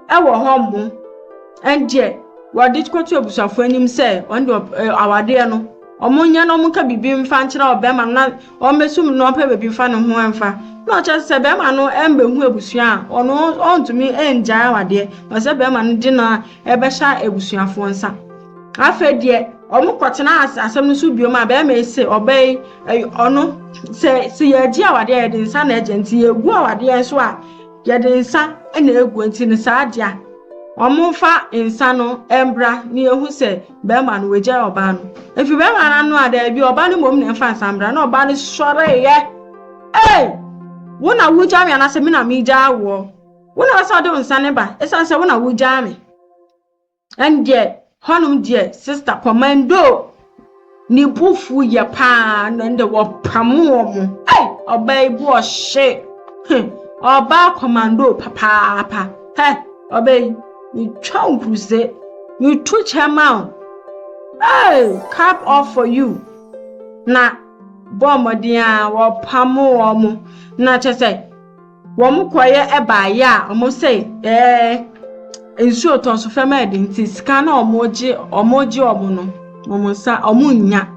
ɛwɔ hɔ mmo. Ɛndeɛ wɔde kɔto abusuafoɔ anim sɛ ɔno deɛ awadeɛ no wɔnyɛ na wɔnka biribi mfa nkyerɛ ɔbɛrima no na ɔmmbɛsum no na ɔmmpɛ beebi mfa no ho mfa, nna ɔkyerɛ dɛ sɛ bɛrima no mmbehu ebusua a, ɔno onntum nngyae awadeɛ, na ɔsɛ dɛ bɛrima no dze no bɛhyɛ ebusuafoɔ nsa. Afei deɛ, wɔkɔtsenaa ase asɛm no so bio ma bɛrima yi see ɔbaa yi, ɔno, sɛ sɛ yɛregye awadeɛ a, yɛdze nsa na ɛgye, ntsi yɛregu awadeɛ so a, yɛdze nsa na egu, ntsi no saa dze a, wɔmfa nsa no mbra na yehu sɛ, bɛrima no wagyae ɔbaa no efi bɛrima no ano a daabi ɔbaa no mmom na ɛmfa nsambra na ɔbaa no sɔreeɛ ei wo na wogyaa me anaasɛ me na megyaa woɔ wo na ɛsɛ ɔde wo nsa ne ba ɛsiane sɛ wo na wogyaa me ɛndeɛ hɔnom deɛ sista kɔmando ne bufu yɛ paa na ɛnde wɔpamo wɔ mo ei ɔbaa yi bu ɔhye ɔbaa kɔmando papaapa hɛ ɔbaa yi Metwa wo kuse, meto kyɛ ma wo. Hey, cap off for you. Na bɔ mmɔden a wɔpamo wɔn. Na kyɛ sɛ wɔn kɔyɛ ɛbaayɛ a wɔn sɛ ɛɛ nsuo tɔ so fam ɛde nti sika na wɔn gye wɔn gye wɔn no wɔn nsa wɔn nya.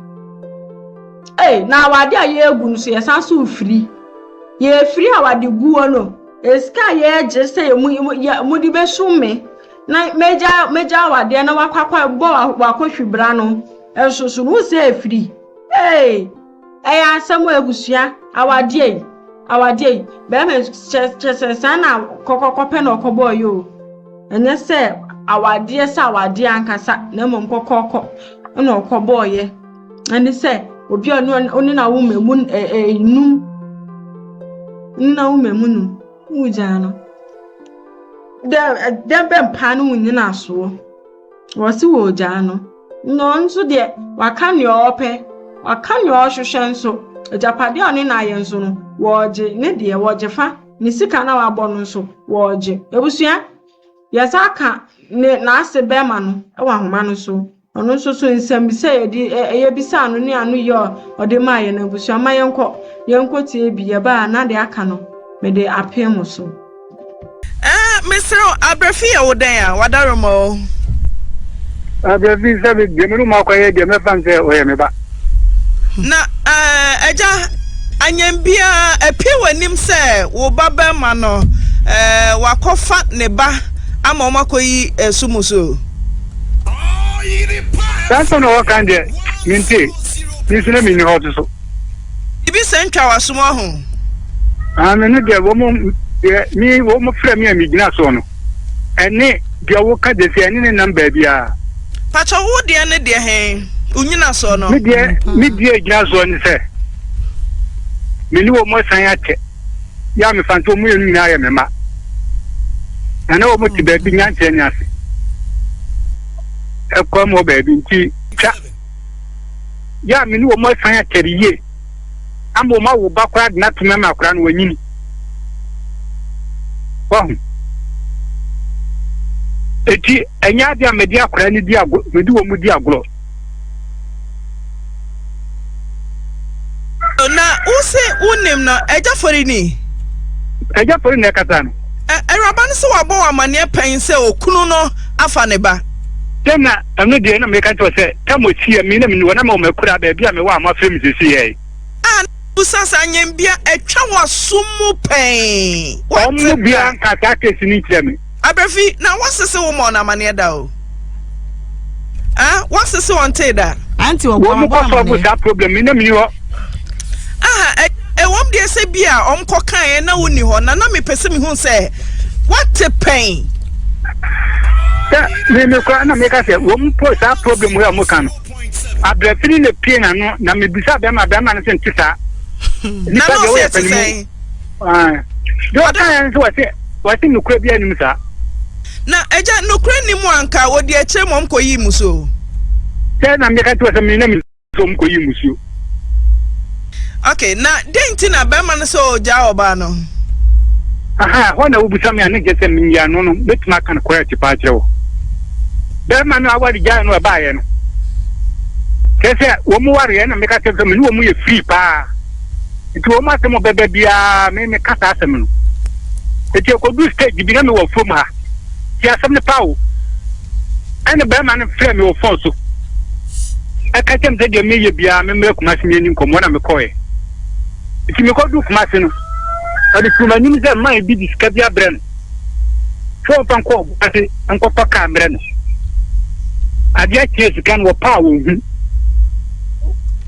Hey, na awade a yɛregu no so yɛsan so firi. Yɛfiri awade guo no. Sika a yɛregye sɛ mode bɛsom me na magyaa wadeɛ na wakɔ bɔ wakɔhwi bra no nso so no sɛ afiri ee ɛyɛ asɛm abusua awadeɛ yi awadeɛ yi bɛrima kyɛ sɛ saa na kɔkɔkɔpɛ na ɔkɔbɔɔ yɛ o ɛnyɛ sɛ awadeɛ sɛ awadeɛ ankasa na mmom kɔkɔkɔ na ɔkɔbɔɔ yɛ ɛne sɛ obi a ɔne na woma mu num ne na woma mu num wogyaa no dɛ dɛ bɛ mpaa no wonyina asoɔ wɔse wɔgyaa no na ɔno nso deɛ waka nea ɔpɛ waka nea ɔhwehwɛ nso agyapadeɛ a ɔne na ayɛ nso no wɔgye ne deɛ wɔgye fa ne sika na wabɔ no nso wɔgye abusua yɛsa ka ne n'ase bɛrima no wɔ ahoma no so Ɔno nso so nsɛmmisa a yɛde ɛ yɛbisaa no ne ano yɛ a ɔde maa yɛn abusua ma yɛnkɔ yɛnkɔ tie bi yɛbaa a na deɛ aka no mede apee mo so. Eh,
mesrɛ wo, Abrafi yɛ wo dɛn a, w'adaroma o?
Abrafi sɛ me deɛ me ne wo makɔyɛ deɛ mɛfa no sɛ ɔyɛ me ba. Na
ɛɛ, agya, anyɛm biara, apue w'anim sɛ wo ba barima no, ɛɛ, wakɔfa ne ba ama wɔn akɔyi ɛso mu so.
Saa asɛm na wɔka deɛ, mentee, me nso na menni hɔ to so. Biribi sɛ
ntwa w'asom aho. Ah, me
no deɛ, wɔn, deɛ, me, wɔn frɛ me a megyina soɔ no. Ɛne deɛ wo ka dɛsi ɛne ne nam baabiaa. Pakyɛ wo
deɛ ne deɛ he wogyina soɔ no? Me deɛ me deɛ
gyina soɔ ne sɛ me ne wɔn asan akyɛ yɛ a mefa nso wɔn mmienu nyinaa yɛ me mma na na wɔn te baabi nyankyerɛ ne ase ɛkɔ mu baabi nti twa yɛ a me ne wɔn asan akyɛ yie. ama ɔma wo ba koraa de no ato mu ma koraa no wanyini. Wahu? Eti ɛnyɛ ade a mede akora no di agorɔ, mede wɔn di agorɔ.
Na wose wonim no, agya fɔri ni? Agya
fɔri na ɛkasa no. Awuraba no so wabɔ
wo amanneɛ pɛn sɛ okunu no afa ne ba? Sɛ na ɛno
deɛ na meka kyerɛ wo sɛ tam ɔtia me na meniwɔ na mewɔ m'akuraa baabi a mewɔ a moafrɛ me seesei ɛɛ. A na bisa
saa nyɛnbea atwa w'asom mu pɛn. Wɔn mu biara
nka saa case no nkyerɛ me. Abrafi, na
wɔsese wo ma wɔn amanneɛ da o. ah wɔsese wɔn tee da. anti wɔn wɔn kɔ
so ɔbu saa
problem mi na mi ni hɔ. aha ɛwɔm
deɛ sɛ bi a wɔn kɔ kan yɛ na wɔn ni hɔ na na mi pɛ sɛ mi hu sɛ wɔte pɛn. sɛ
mi mi kura na mi ka sɛ wɔn po saa problem yɛ wɔn kan no abirafini na pie na no na mi bisa bɛrima bɛrima no sɛ n ti saa. na n'o
se ti sɛn.
deɛ ɔka yɛ nso wɔse wɔse nokorɛ bi anim saa na
agya nokorɛ nni mu anka wɔde akyerɛ mu ɔmkɔ yi musuo sɛ na
meka nti wɔ sɛ mena me sɛ ɔmkɔ yi musuo
ok na dɛn nti na bɛrima no sɛ ɔgyaa ɔbaa no aha
hɔ na wobusa me a ne gye sɛ menyɛ ano no mɛtumi aka no korɛ te paa kyerɛ wɔ bɛrima no awade gyae no ɛbaeɛ no kyerɛ sɛ wɔn wareɛ na meka kyerɛ sɛ me ne wɔn yɛ firi paa Nti wɔn asɛm a wɔbɛba biara me meka saa asɛm no. Nti ɛkɔduru stage bi na mewɔ afuom ha. Tie asɛm no paa o. Ɛna barima no frɛ me wɔ phone so. Ɛka kyerɛ me sɛ deɛ meyɛ biara memmrɛ Kumasi ne yɛni nkɔmmɔ na mekɔɛ. Nti mekɔduru Kumasi no, ɔde sii m'anim sɛ mma ebi de sika bi abrɛ no sɛ wɔmfa nkɔ Kumasi nkɔtɔ kaa mmerɛ no. Adeɛ kyeɛ sika no wɔpaa wɔn hu.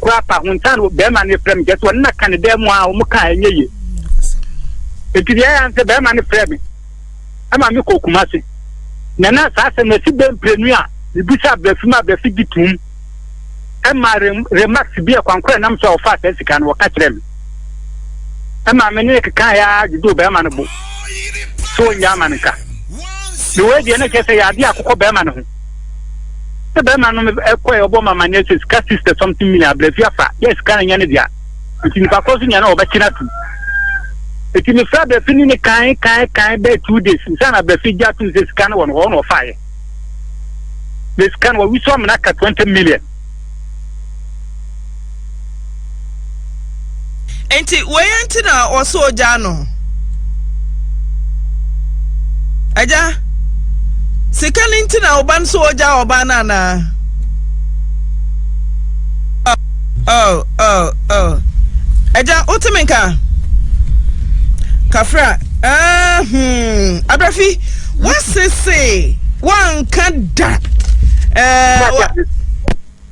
koraa pa ho nsa no bɛrima no frɛ me kyɛ sɛ ɔno na ka ne dan mu a wɔn ka ɛnyɛ yie nti deɛ ɛyɛ sɛ bɛrima no frɛ me ɛma me kɔ kuma se na na saa sɛ na ɛsi bɛn mprenu a mebisa abrɛfi ma abrɛfi gye tum ɛma remax bi a kwankora nam so a wɔfa saa sika no wɔka kyerɛ me ɛma me ne keka yɛ a dwodwo bɛrima no bo so ɔnya ama no nka mewɔ deɛ no kyerɛ sɛ yɛ adeɛ akokɔ bɛrima no ho Sɛ bɛrima no kɔɛ ɔbɔ ma ma nyɛ sɛ sika sista something million abirɛfi afa yɛ sika no nyɛ ne dea nti nipa koro so nyɛ no ɔbɛkye no atum nti mefrɛ abirɛfi ne ne kan kan kan bɛɛ two days nsa na abirɛfi gya atum sɛ sika no wɔ no hɔ na ɔfa yɛ na sika no wɔwisɔ amena ka twenty million
Enti wei nti na ɔsɔ ogya no. Agya, sika no nti na ɔba no so ogya ɔba no anaa? Oh, oh, oh. Agya, wote me nka? Kafra, ah, hmm, abrafi. Wase se wanka da.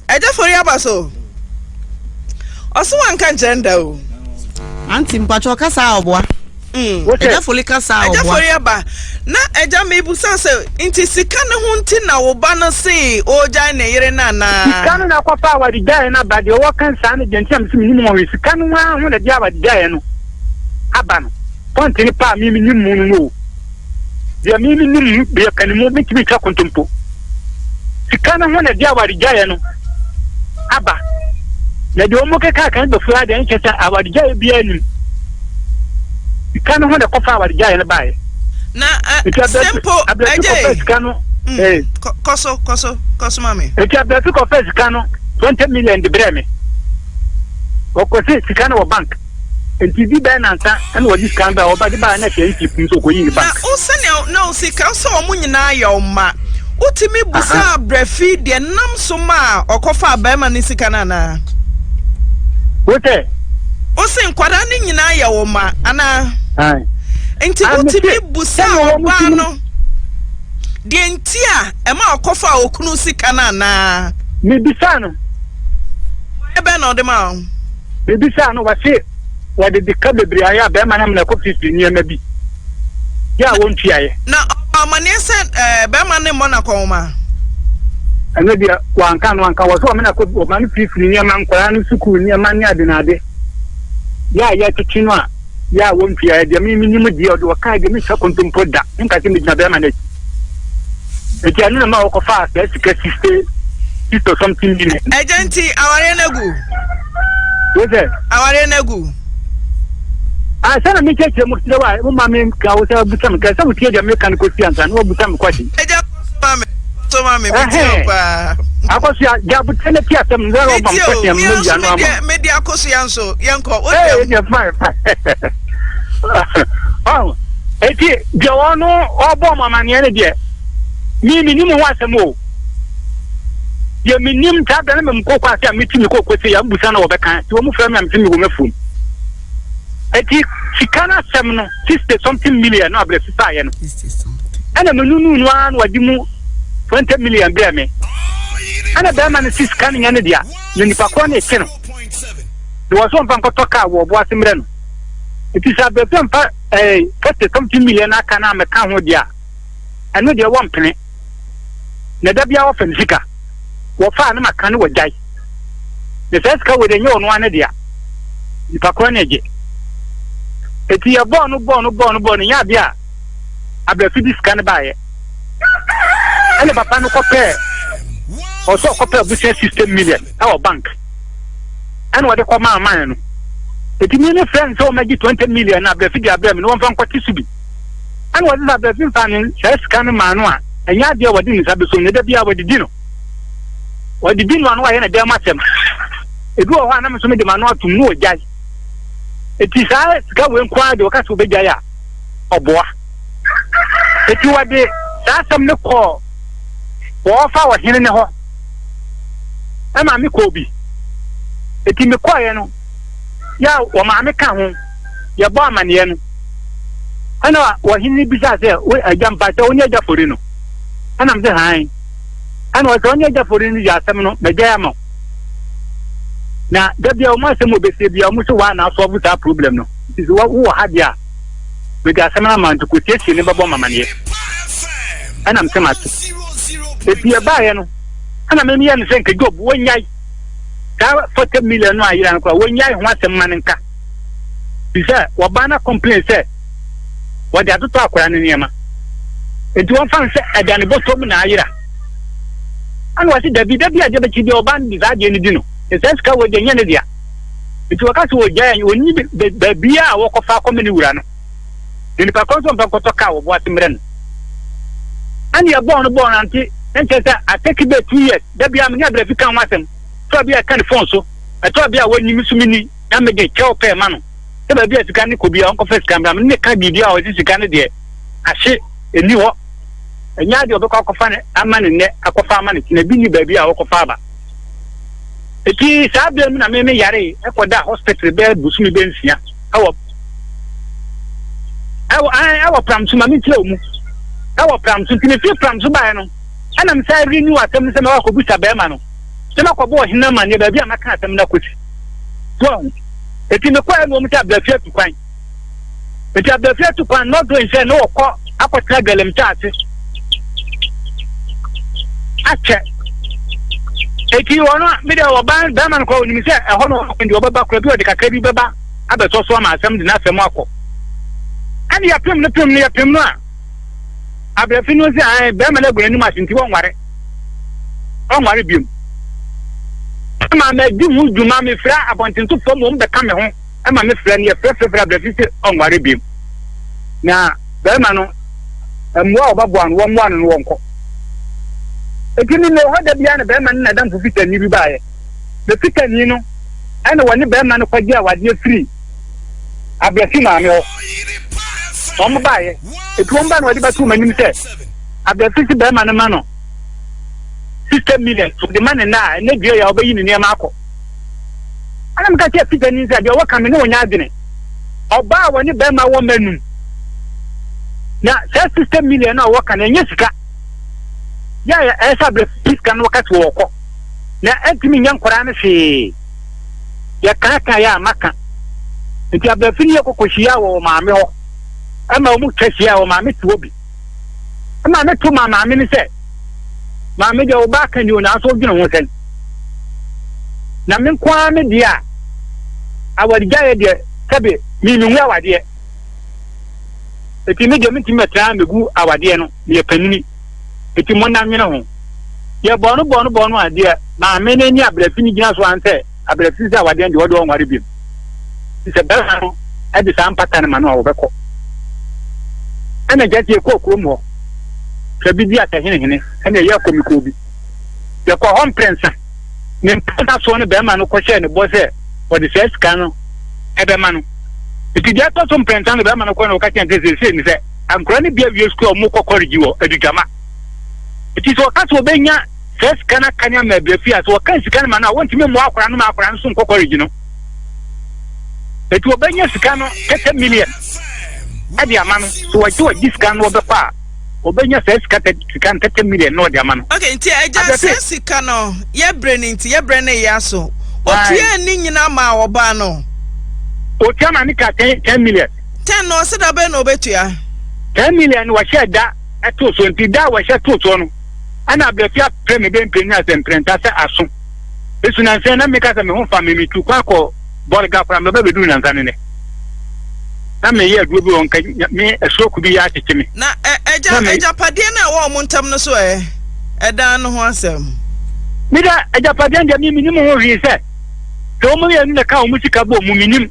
Ẹja eh, fori aba so. Ọsọ wanka nkyerɛ nda o. Anti
mpatsɔ kasa ɔboa. Mm. Ẹja fori kasa ɔboa. Ẹja fori aba.
Na ẹja mi ibusa sɛ nti sika ne ho nti na wo ba no se ogya ne yere na na. Sika no na kɔfa
awari gyae na ba deɛ ɔwɔ kansa ne deɛ nti na mi si mi nim wɔn sika no ho na di awari gyae no aba no pɔnti ne paa mi mi nim mu no no o. Deɛ me me nim deɛ kane mu bɛtumi twa kontompo. Sika no ho na ɛde awaregyaeɛ no aba. Na deɛ wɔn keka kan bɛfu adeɛ no kyɛ sɛ awaregyaeɛ biara nim. Sika no ho na ɛkɔfa awaregyaeɛ no baeɛ. Na
simple agye. Sika no. Kɔso kɔso kɔso ma me. Eti abirasi kɔfɛ
sika no twenty million de brɛ me. Ɔkɔsi sika no wɔ bank. Nti di bɛn nansa na wɔde sika no bɛɛ a wɔba de baeɛ no atua nti nso ɔkɔyii ne bank. Na wo sɛnea na wo
sika sɛ wɔn nyinaa yɛ wo mma. Wotumi busaa brɛ fi deɛ nam so maa ɔkɔfaa barima no sika no anaa?
Wo sɛ. Wo
se nkwadaa no nyinaa yɛ wo mma anaa? Ae.
Nti wotumi
busaa ɔbaa no deɛ nti a ɛma ɔkɔfaa okunu sika no anaa? Mebisaa no.
Mmuaeɛ
bɛn na ɔde maa wo? Mebisaa
no, ɔse wɔde deka bebree ayɛ a bɛrima no amena kɔ fiifii nneɛma bi yɛ a wɔntuaeɛ. Na ɔbɔ amanneɛ
sɛ bɛrima no mmɔ no akɔnhoma.
Ɛno deɛ wanka ano anka, ɔse ɔmena kɔ ɔma no fiifii nneɛma, nkwadaa no sukuu nneɛma ne ade na ade yɛ a yɛtwetwe no a. Yɛ a wɔntua ɛ deɛ me menim deɛ ɔde ɔkae deɛ mentwa kontompo da menka sɛ megyina bɛrima no akyi nti ɛno na ma wɔkɔfaa saa sika siste sista something million ɛgya nti awareɛ
no agu wo
sɛ awareɛ no agu asɛ na mekyɛkyerɛ mu kyerɛ wo a woma me ka wo sɛ busa me ka sɛ wotie deɛ meka no kɔsi ansa na wabusa me kwadi
akɔsoa
gyabotrɛ no ti asɛm no sɛ ɔba mpɛsɛm no yia no ama mede
akɔsoa nso
yɛnkɔ wodeɛ fine ɛti deɛ ɔno ɔbɔ m amanneɛ no deɛ me menim ho asɛm o deɛ menim taa bɛ no memkɔkɔ ase a meti me kɔkɔ sɛ yɛmbusa na wɔbɛka nti wɔ mu frɛ me a mete me wɔ mafom Enti sika no asɛm no, sixty something million no abrɛ sisaeɛ no, ɛna menunuu no ara na wɔde mu twenty million brɛ me. Ɛna bɛrima no se sika no nyɛ ne dea, na nipa korɔ na ɛte no, na wɔn sɛ wɔmfa nkɔtɔ kaa wɔ Ɔboase mmerɛ no. Enti sɛ abrɛfia mfa ɛɛ forty something million no aka no ammɛka ho deɛ a, ɛno deɛ wɔmpene. na da biara wɔfa me sika, wɔfa a na maka no wɔagyae, na saa sika wei deɛ ɛnyɛ ɔno ara ne dea, nipa korɔ na ɛgye. Eti yɛbɔɔ no bɔɔ no bɔɔ no bɔɔ no nyɛ adeɛ a abrɛfi de sika no baeɛ ɛna papa no kɔpɛɛ ɔsɛ ɔkɔpɛɛ abusua system million ɛwɔ bank ɛna wɔde kɔ maa man no eti mi ne friend sɛ wɔn agye twenty million na abrɛfi de abrɛ mi na wɔn fa nkɔte so bi. Ɛna wɔde saa bere fi fa ne saa sika no maa no a, ɛnyɛ adeɛ a wɔde ne nsa bɛsom na ɛda biara wɔde di no. Wɔde di no a na wɔayɛ no dɛm asɛm. Ebi wɔ hɔ a na me nso mede m'ano atom na wɔgyae. Eti saa sika wei nko ara de wɔka sɛ wɔbɛgyae a, ɔboa. Eti wɔde saa asɛm no kɔɔ wɔfa ɔhene no hɔ. Ɛma me kɔɔ bi. Eti mekɔeɛ no. Yaw, wɔn maame ka ho, yɛ bɔɔ amaneɛ no. Ɛna ɔhene no bisaa sɛ, Wo agya, mpakyɛ wo ne agya fori no? Ɛna me sɛ, Hann. Ɛna ɔsɛ, Ɔne agya fori no yɛ asɛm no, mɛgyae ama wo. Na da bia wɔn asɛm wɔ bɛsie bia, wɔn sɛ wɔa na asɔɔbo saa problem no. Nti sɛ wo wɔ ha deɛ a, mede asɛm no ama nti kɔsiesie ne bɛbɔ mamaneɛ. Ɛna me sɛ mate. Ɛti ɛbaeɛ no, ɛna me meyɛ no sɛ nka Job wɔnyae. saa forty million no ayera no koraa wɔnyae ho asɛm ma no nka fi sɛ wɔbaa na complain sɛ wɔde atotɔ akwadaa no nneɛma nti wɔmfa no sɛ ɛda ne bɔtɔ mu na ayera ana wɔse dabi da bi adeɛ bɛkyi deɛ ɔbaa no de saa adeɛ no di no ɛsɛ sika wɔ deɛ nyɛ ne dea nti wɔka sɛ wɔgyae wɔnni baabia a wɔkɔfa akɔma ne wura no na nipa kɔ nso ɔmpɛ nkɔtɔ kaa wɔboa se mmerɛ no ɛne ɛbɔɔ no bɔɔ no ante ɛnkyɛ sɛ atɛki bɛ two years Da biara me ne Abirafi ka ho asɛm. Ɛtɔ a bi a yɛka no fon so. Ɛtɔ a bi a wonni me so minni na mede kyɛw pɛɛ ma no. Sɛ baabi a sika no kɔ biara ɔnkɔfa sika mmra. Me ne no ka biribi a ɔse sika no deɛ ahye, enni hɔ. Ɛnyɛ adeɛ a ɔbɛkɔ akɔfa no ama no nnɛ akɔfa ama no kyena. Bi nni baabi a ɔkɔfa aba. Enti saa berɛ mu na me me yaree kɔdaa hospital bɛyɛ bosome bɛyɛ nsia ɛwɔ ɛwɔ ɛwɔ Pramso. Ma menkyerɛ wo mu. Ɛwɔ Pramso. Nti mefiri Pramso baeɛ no. Ɛna me san renew asɛm no sɛ mɛkɔ akɔbusa barima no sɛ makɔbɔ ɔhene amanneɛ baabi a maka asɛm no akɔsi. So ahu? Enti mekɔeɛ na wɔn sɛ Abrafie atu kwan. Enti Abrafie atu kwan no, na ɔdɔ nhyɛ na wɔkɔ akɔtena Galamsey ase akyɛ. Enti wɔn a me deɛ wɔban barima no koraa onim sɛ ɛhɔ na ɔkɔ deɛ ɔbɛba koraa bi ɔde kakra bi bɛba abɛsɔ so ama asɛm de n'asɛm akɔ. Ɛna yɛpem no pem no yɛpem no a. Abrɛfo no se ae, barima no agu n'anim ase nti wɔnware. Ɔnware biom. Ɛma madi ho dwuma, mefrɛ abɔntensofoɔ ma wɔn bɛka me ho, ɛma mefrɛ no, yɛfrɛ frɛfrɛ abrɛfo se ɔnware biom. Na barima no, mmoa a wɔbɛboa no, wɔmmoa no no wɔnkɔ. Enti me mewɔ hɔ da biara na barima no n'adamfo Fitani bi baeɛ. Na Fitani no ɛna wɔne barima no kɔgye awadeɛ firi. Abeafi maame hɔ na wɔn baeɛ etu wɔn ba na wɔde bɛto wɔn anim sɛ Abeafi si barima no ma no sixty million de ma ne nna a ɛnɛ dua yɛ a ɔbɛyi ne nneɛma akɔ ɛna meka sɛ fita ni sɛ deɛ ɔwɔ ka me ne ɔnya adwene ɔbaa a wɔne barima wɔ mma num na saa sixty million a ɔwɔ ka no ɛnyɛ sika yɛ a ɛsɛ Abeafi sika no wɔka sɛ wɔkɔ na ɛntumi nyɛ nkwadaa no hwee Yɛkaakae a maka. Enti aber a fi no yɛ kɔkɔ hyiaa wɔ wɔ maame hɔ ma ɔmu twa hyiaa wɔ maame te hɔ bi. Ɛma me to ma maame no sɛ, Maame deɛ wo ba aka ni o nanso wodwene ho sɛn? Na me nko ara me deɛ a awargyaeɛ deɛ sɛbe me me hu awadeɛ. Enti me deɛ me ntumi mɛtena mɛgu awadeɛ no meyɛ panini. Enti monna nwene ho. Deɛ bɔɔ no bɔɔ no bɔɔ no a, deɛ maame no ne abrɛfi no gyina so ara ne sɛ, abrɛfi sɛ awadeɛ no deɛ, ɔde ɔnware bio. Enti sɛ barima no de saa mpata no ma no a, ɔbɛkɔ. Ɛnna agya tie kɔɔ kurom hɔ. Sɛ bi di asɛhenehene, ɛnna ɛyɛ kɔmikoo bi. Yɛkɔɔ hɔ mprɛnsa. Ne mprɛnsa soɔ no barima no kɔhyɛɛ ne bɔ sɛ ɔde saa sika no bɛma no. Enti deɛ ɛtɔ so mprɛnsa no, barima no kɔe na ɔka kyerɛɛ no sɛ seesei ne sɛ, Nkwadaa no bi awie sukuu a wɔkɔ kɔlegyi wɔ Adugyama. Nti sɛ wɔka sɛ wɔbɛnya saa sika no aka ne ama abira fie a, sɛ wɔka sika no ma no a, wɔntumi mmoa akwadaa no ma akwadaa no nso nkɔ kɔlegyi no. Nti wɔbɛnya sika no tɛtɛ million de ama no. Sɛ wɔgye wɔgye sika no wɔbɛkɔ a, wɔbɛnya saa sika tɛ sika no tɛtɛ million na wɔde ama no. Okay, nti agya Abrɛte.
saa sika no yɛbrɛ no nti yɛbrɛ no yɛ aso. Aye. Otua ne nyinaa maa ɔbaa no. Otua
ma ne ka ten ten million. Ten na ɔse da bɛn
na ɔbɛtua. Ten million
no wɔhyɛɛ da too soɔ nti da a wɔhyɛ too soɔ no ɛna abrɛfia prɛ me bɛmpire ne asɛ mprɛnta sɛ aso ɛsu nansa na meka sɛ me ho fa me me tu kwan kɔ bɔrga koraa mɛba bɛduru nansa ne nɛ na me yɛ aduo bi wɔ nka me ɛsoroku bi yɛ akyekye me na ɛgya ɛgya
padeɛ no a ɛwɔ ɔmo ntam no so ɛ ɛdan no ho asɛm me da
ɛgya padeɛ no deɛ me menim ho hwee sɛ sɛ ɔmo yɛ no na ka ɔmo sika bɔ mu menim.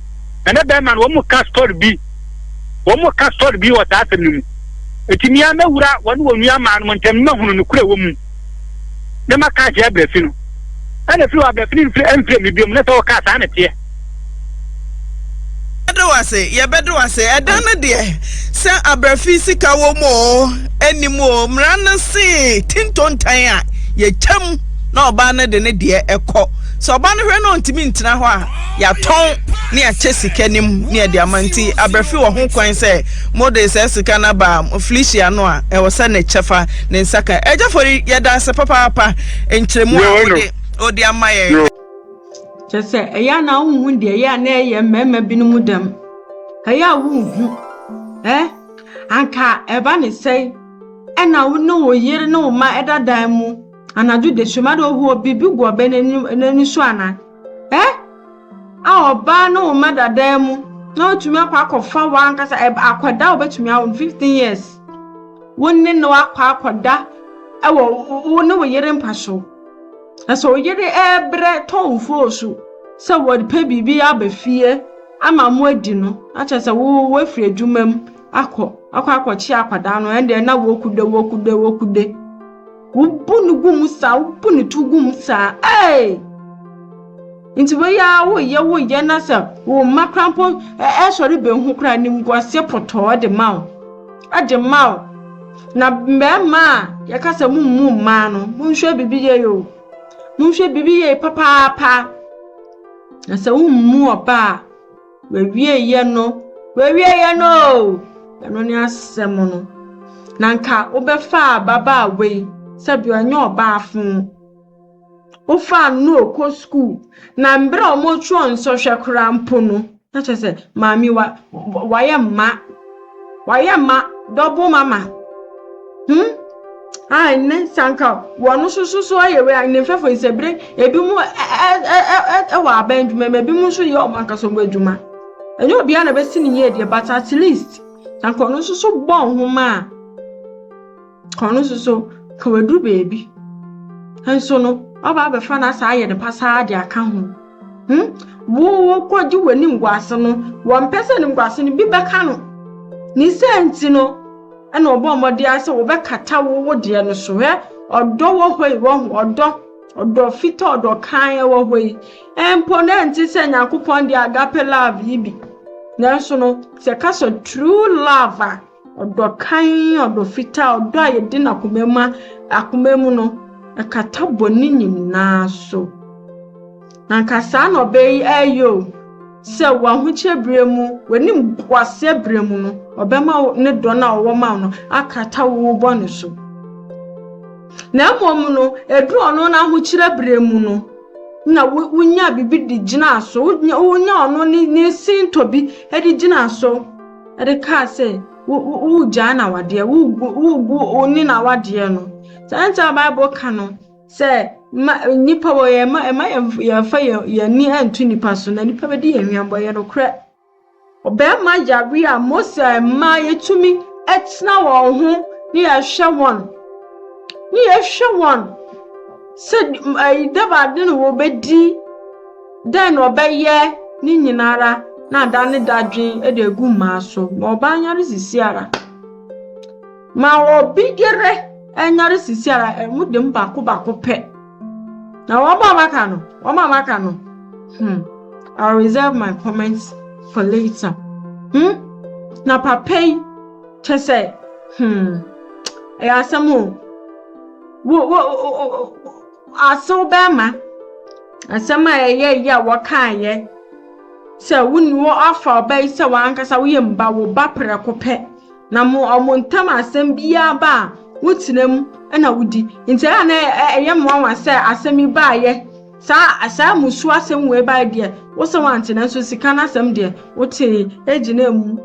na na bɛrima no wɔn ka story bi wɔn ka story bi wɔ saa asɛm no mu eti mia mɛwura wɔn wɔn nua maa no mo ntɛm na hunu no kura wɔ mu na ma ka akyerɛ abirafi no ɛna firi wɔ abirafi no nfiri ɛnfiri mi biom na sɛ ɔka saa na teɛ.
Yɛbɛde wo ase, yɛbɛde wo ase. Ɛdan no deɛ, sɛ abrɛfi sika wɔ mu o, ɛni mu o, mmara no se tintontan a, yɛtwam na ɔbaa no de ne deɛ ɛkɔ. Sɛ ɔba no hwɛ na ɔntumi ntena hɔ a, yɛatɔn ne yɛakyɛ sika no mu ne yɛde ama. Nti aberɛfi wɔ ho kwan sɛ mode saa sika no aba Felicia no a, ɛwɔ sɛ ne kyɛfa ne nsa ka. Agya Fori, yɛda ase papaapa nkyerɛmu a wode wode ama yɛn nnɛ. Kyerɛ
sɛ, ɛyɛ a na wonhu deɛ ɛyɛ a na ɛyɛ mmarima binom dɛm. Ɛyɛ a wonhu. Ɛ? Anka ɛba ne sɛe na wo ne wo yere ne wo mma da dan mu. Anadwo dasuom ade ohoɔ biribi gu ɔbɛ no ani so anaa? Eh? A ɔbaa ne wo mma da dan mu na watumi akɔ akɔfa w'ankasa akwadaa a obetumi awo no fifteen years wo ne no akɔ akɔda ɛwɔ wo ne wo yere mpa so na sɛ wo yere ɛɛbrɛ tɔ nfoo so sɛ wɔpɛ biribi aba fie ama mo adi no na kyerɛ sɛ wo wafiri adwuma mu akɔ akɔ akɔkye akwadaa no ɛndeɛ na wokude wokude wokude. Wobu no gu mu saa, wobu ne to gu mu saa. Ee! Nti wei ara woyɛ woyɛ na sɛ wo mma koraa mpo ɛsɔre behu koraa animguaseɛ pɔtɔɔ de ma wo. Ɛde ma wo. Na mmarima a yɛka sɛ mommu mmaa no, monhwɛ biribi yie o. Monhwɛ biribi yie papaapa. Na sɛ wommu ɔbaa a, W'awieeɛ no, w'awieeɛ no o! Ɛno ne asɛm no. Na nka wobɛfaa ababaawa yi sɛdeɛ ɔnyɛ ɔbaafo. Wofaa no na ɔkɔ sukuu, na mberɛ a wɔtwerɛ nsɔhwɛ koraa mpo no, na kyerɛ sɛ maame wa wayɛ mma. Wayɛ ma double mama. Hmm. Ah, ɛnɛ sɛ anka wɔn nso so so ayɛ wei a ne mfɛfo nsɛbire ebi mu ɛwɔ aban adwuma mu ebi mu nso yɛ wɔn ankasa wɔn adwuma. Ɛnyɛ obiara na bɛsi ne yie deɛ but at least anka ɔno nso so bɔ nhoma a Ɔno nso so ka wadu baabi nso no ɔba abɛfa no asa ayɛ no pasaa de aka ho hmm wo wokɔgye w'ani nguase no wɔmpɛ sɛ ne nguase no bi bɛka no ne sɛ nti no ɛna ɔbɔ mmɔden ara sɛ wɔbɛkata wo wo deɛ no so hɛ ɔdɔ wɔ hɔ yi wɔ ho ɔdɔ ɔdɔ fita ɔdɔ kan wɔ hɔ yi mpo na ɛnte sɛ nyankopɔn de agape love yi bi nanso no sɛ ka sɛ true love a Ɔdɔ kann, ɔdɔ fitaa, ɔdɔ a yɛde no akoma mu, akoma mu no, ɛkata bɔne nyinaa so. Na nka saa na ɔbɛ yi ɛyɛ o, sɛ wɔ ahokyɛ berɛ mu, w'anim boaseɛ berɛ mu no, ɔbɛma ne dɔ no a ɔwɔ ma wo no akata wo bɔne so. Na mmom no, ɛduru ɔno no ahokyerɛ berɛ mu no, na wonya biribi de gyina so, wonya ɔno ne sintɔ bi de gyina so. de kaa sɛ woregyaa n'awadeɛ, woregu wo ne n'awadeɛ no. Saa nti a Bible ka no sɛ ma nnipa wɔ yɛn ma ɛma yɛmfa yɛn ani nto nnipa so na nnipa bɛdi yɛn hwɛmbɔ yɛ nokorɛ. Ɔbarima yare a Mose amma yɛtumi tena wɔn ho ne yɛhwɛ wɔn ne yɛhwɛ wɔn sɛ ɛyi dɛm ade no wɔbɛdi. Dɛn na ɔbɛyɛ ne nyinara na ada ne dadwen de agu mmaa so ma ɔbaa nyare sisiara? Ma obi yere nyare sisiara ɛmu dem baako baako pɛ. Na wɔn a wɔaka no, wɔn a wɔaka no, hmm, I'll reserve my comments for later. Hmm? Na papa yi, kyɛ sɛ, hmm, ɛyɛ asɛm o. Wo, wo, wo, wo, Asew bɛmma asɛm a ɛyɛ yie a wɔkaeɛ sɛ, Wo ne wo afa ɔba yi sɛ w'ankasa woyɛ mma wo ba prɛko pɛ, na mo wɔn ntam asɛm biara ba a, wotena mu na wodi. Nti ɛyɛ a na ɛyɛ mmoawa sɛ asɛm yi baeɛ saa saa mmusuo asɛm wei baeɛ deɛ wo sɛ wante nanso sika no asɛm deɛ wotee gyina mu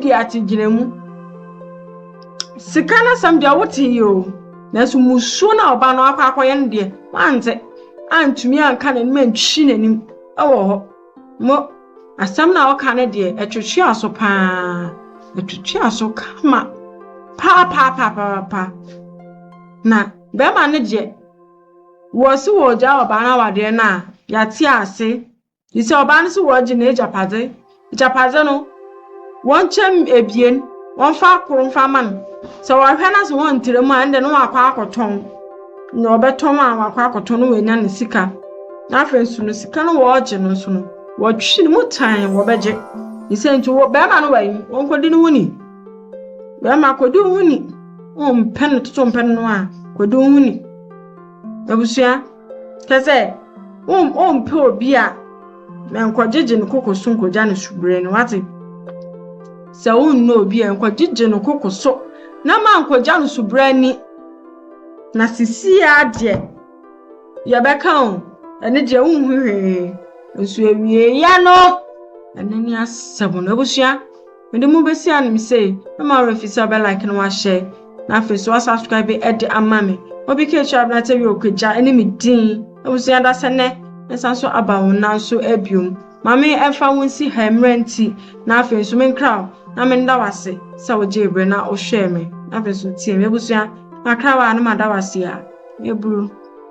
di ate gyina mu sika no asɛm deɛ wotee o. Nanso mmusuo no a ɔbaa no akɔ akɔyɛ no deɛ, wante, antumi anka n'anim antwitwi n'anim wɔ hɔ. Mo, asɛm no a ɔka no deɛ, ɛtwetwe aso paa, ɛtwetwe aso kama paapaapaapapa. Na bɛrima no deɛ, wɔsi wɔ gyaa ɔbaa no awadeɛ no a, yɛate ase. Te sɛ ɔbaa no sɛ wɔregye n'agyapadze. Agyapadze no, wɔnkyɛ mu ebien, wɔmfa kor mfa mma no. Sɛ wɔhwɛ no sɛ wɔntra mu a, ɛnde no wakɔ akɔtɔn. Na ɔbɛtɔn a wakɔ akɔtɔn no wanya ne sika. Na afei nso no sika no wɔregye no nso no, wɔtwe ne mu tan wɔbɛgye. Ne sɛ nti wɔ bɛrima no wɔ wɔnkɔdi ne ho ni. Bɛrima kɔdi wo ho ni. Wompɛ no toto mpɛ no a, kɔdi wo ho ni. Abusua. Kyɛ sɛ, wompɛ obi a nkɔgyegye no koko so nkogya no subere no, wate? Sɛ wonnɔ obi a nkɔgyegye no koko so na ma nkogya no subere ani. Na sisi a deɛ yɛbɛka o, ɛne deɛ wonhu hwee nso awieeɛ no, ɛno ne asɛm no abusua. Mede mo besi anim sɛ mɛma wo refi sɛ ɔbɛlike na wahyɛ na afei so wasubscribe ɛde ama me. Obi ka ekyir abena tɛ wio kwagya ɛne me din abusua da sɛ nɛ mɛsan so aba wo nan so abiom. Mame ɛmfa wo nsi ha mmerɛ nti na afei nso me nkra wo na me nda wo ase sɛ wo gyee berɛ na wo hwɛɛ me na afei nso wo tiee me abusua makra wo a na mada wo ase a. Meburu.